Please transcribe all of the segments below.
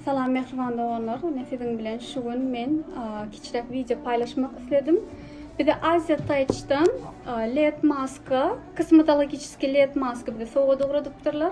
Salam mehriban doganlar. Ine siziň bilen şu gün men kiçiräk wideo paýlaşmak isledim. Bize Aziýa Taýçdan LED maska, kosmetologiçiski LED maska bize sowgat ugradypdyrlar.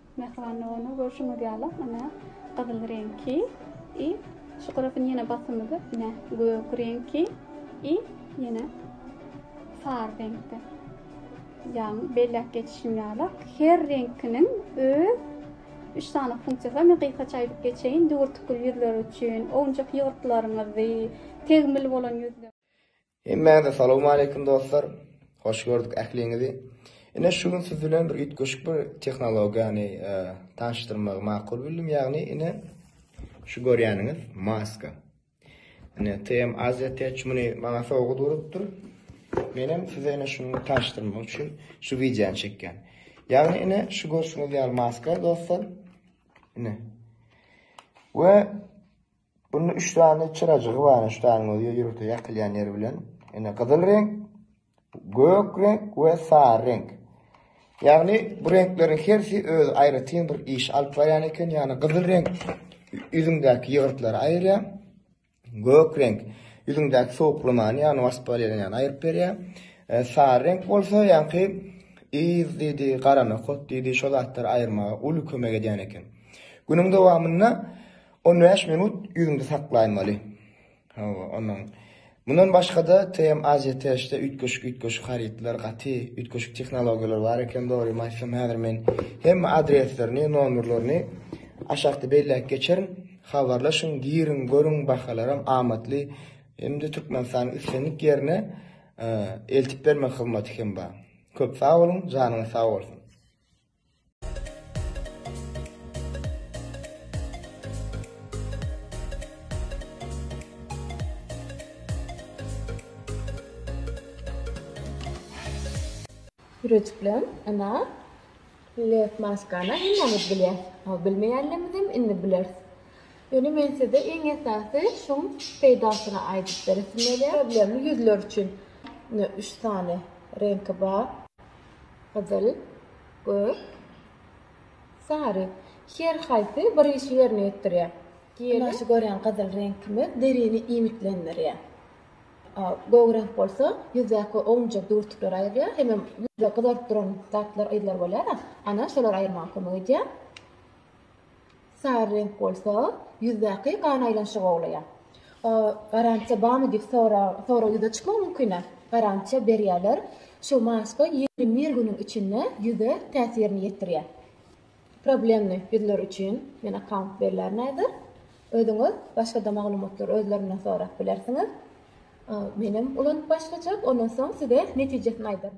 Mähriban ony görşüňiz ýaly ine gyzyl reňki i şu gyrasyn ýene basymyzy ine gök reňki i ýene sary reňkde. Ýagny belläp geçişim ýaly her reňkiniň öz üç sany funksiýasy bar. Men gysgaça aýdyp geçeýin. Düwürtikli ýüzler üçin, owunjak ýygyrtlaryňyzy, tegmil bolan ýüzler. Hemmäňize salowmaleýkim dostlar! Hoş gördük ähliňizi! Ine şu gün siz bilen bir üýtgeşik bir tehnologiýany tanyşdyrmagy makul bildim, ýagny ine şu görýäniňiz maska. Ine TM Asia Tech muny maňa sowgat urupdyr. Menem size ine şuny tanyşdyrmak üçin şu wideony çekýän. Ýagny ine şu görşüňiz ýaly maska dostlar. Ine. We Bunda üç sany çyrajygy bar, ene ştaryň özi ýörite ýakylýan ýeri bilen. Ene gyzyl reňk, gök reňk we sary reňk. Ýagny bu reňkleriň hersi özi aýratyn bir iş alyp barýan eken, ýagny gyzyl reňk ýüzüňdäki ýygyrtlary aýyrýar. Gök reňk ýüzüňdäki sowuklamany, ýagny waspolenýany aýryp berýär. E, sary reňk bolsa ýaňky yz diýdi, garama kot diýdi, şo zatlary aýyrmaga uly kömek edýän eken. Günüň dowamynda On bäş minut ýüzüňde saklaýmaly. Hawa, ondan. Mundan başga-da, TM Aziýa-THD-de üýtgeşik üýtgeşik harytlar, gaty üýtgeşik tehnologiýalar bar eken, dogrymy aýtsam, häzir men hemme adreslerini, nomerlerini aşakda belläp geçerin. Habarlaşyň, giriň, görüň, bahalaram amatly. Hem-de Türkmenistanyň islendik ýerine eltip bermek hyzmaty hem bar. Köp sag boluň, janyňyz sag bolsun! Püreçikleň ina lep maskana hemmemiz bilýär. Aw bilmeýänlerimizem indi biler. Ýöne men size iň esasy şu peýdasyny aýdyp beresim gelýär. Problemli ýüzler üçin üç sany reňki bar. Gyzyl, gök, sary. Her haýsy bir işi ýerine ýetirýär. Günaşy görýän gyzyl reňkimiz derini iýmitlendirýär. Gök reňk bolsa ýüzdäki ownujak düwürtikleri aýyrýar, hemem ýüzi gyzaryp duran zatlar, yzlar bolýar-a, ana şolar aýyrmaga kömek edýär. Sary reňk bolsa, ýüzdäki gan aýlanyşygy gowlaýar. Garantiýa barmy diýip sorag ýüze çykmagy mümkin-ä. Garantiýa berýärler. Şu maska ýigrimi bir günüň içinde ýüze täsirini ýetirýär. Problemli ýüzler üçin men akkaunt berler häzir. Özüňiz başga-da maglumatlary özlerinden sorap bilersiňiz. Menem ulanyp başlajak, ondan soň size netijesini aýdaryn.